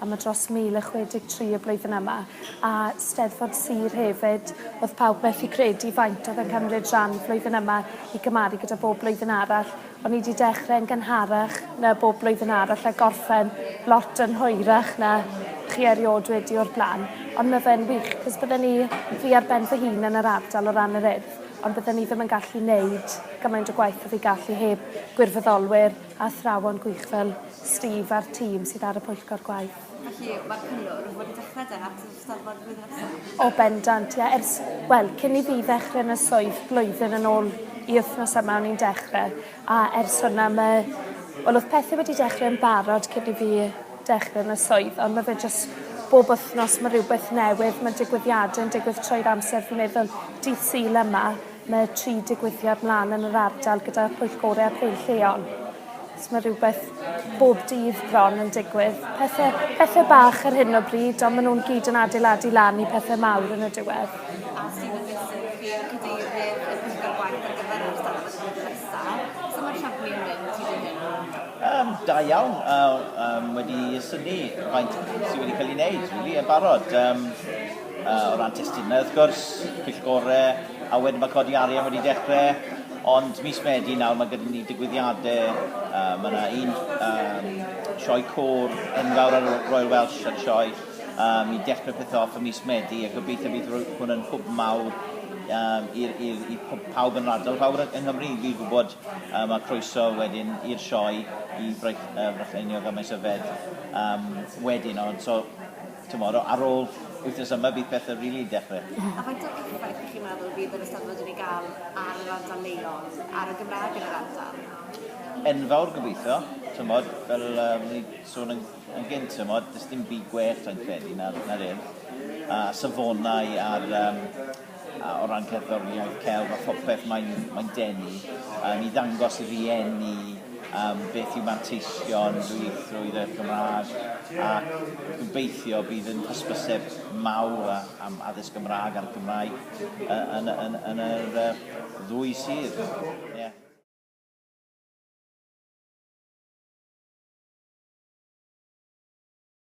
a mae dros 1063 y blwyddyn yma, a Steddfod Sir hefyd, oedd pawb methu credu faint oedd yn cymryd rhan flwyddyn yma i gymaru gyda bob blwyddyn arall, o'n i 'di dechre yn gynharach na bob blwyddyn arall a gorffen lot yn hwyrach na chi eriod wedi o'r bla'n, ond mae fe'n wych, 'cos bydden i fi ar ben fy hun yn yr ardal o ran yr Urdd, ond bydden i ddim yn gallu neud gymaint o gwaith o fi gallu heb gwirfoddolwyr, athrawon gwych fel Steve a'r tîm sydd ar y Pwyllgor Gwaith. Felly, mae'r cyngor yn fod i dechrau de at yr Eisteddfod flwyddyn nesaf? O bendant, ie. Ers, wel, cyn i fi ddechrau yn y swydd blwyddyn yn ôl i wythnos yma o'n i'n dechrau, a ers hwnna mae... wel, oedd pethau wedi dechrau yn barod cyn i fi dechrau yn y swydd, ond mae fe jyst bob wythnos mae rhywbeth newydd, mae digwyddiadau'n digwydd trwy'r amser, fi'n meddwl, dydd Sul yma, Mae tri digwyddiad mlaen yn yr ardal gyda phwyllgorau a'r holl lleol. So mae rhywbeth bob dydd bron yn digwydd. Pethau, pethau bach ar hyn o bryd, ond maen nhw'n gyd yn adeiladu lan i pethau mawr yn y diwedd. A sydd yn fesur i chi cadeirydd y pwyllgor gwaith ar gyfer yr ystafell wythnos nesaf? So mae'r siampli yn mynd i ddyn hyn? Um, da iawn, uh, um, wedi syni faint sydd wedi cael ei wneud, really, yn barod. Um, Yy o ran testunau wrth gwrs, Cwll Gore, a wedyn ma' codi arian wedi dechre, ond mis Medi nawr ma' gyda ni digwyddiade, yy ma' 'na un yym sioe côr enfawr ar y Royal Welsh ar y Sioe yym i dechre pethe off ym mis Medi a gobeithio bydd rwy- hwn yn hwb mawr yym i'r i'r i p- pawb yn yr ardal, pawb yn yng Nghymru i gyd gwbod yym a croeso wedyn i'r sioe i Braich- yy Brycheiniog a Maes Yfed yym wedyn ond so Tomorrow, ar ôl wythnos yma, bydd pethau rili really yn dechrau. A faint o effaith ych chi'n meddwl fydd yr Eisteddfod wedi gael ar yr ardal leol, ar y Gymraeg yn yr ardal? Enfawr gobeithio, tymod, fel um, ni sôn yn, yn gynt, tymod, dys dim byd gwell yn credu na'r, na'r urdd, a safonau a'r um, A o ran cerddoriaeth, celf a phopeth, mae'n mae'n denu yym i ddangos i rieni yym beth yw manteision ddwyieithrwydd y Gymraeg ac gobeithio bydd yn hysbyseb mawr a- am addysg Gymraeg a'r Gymraeg yy yn y yn yn yr yy ddwy sir. Ie.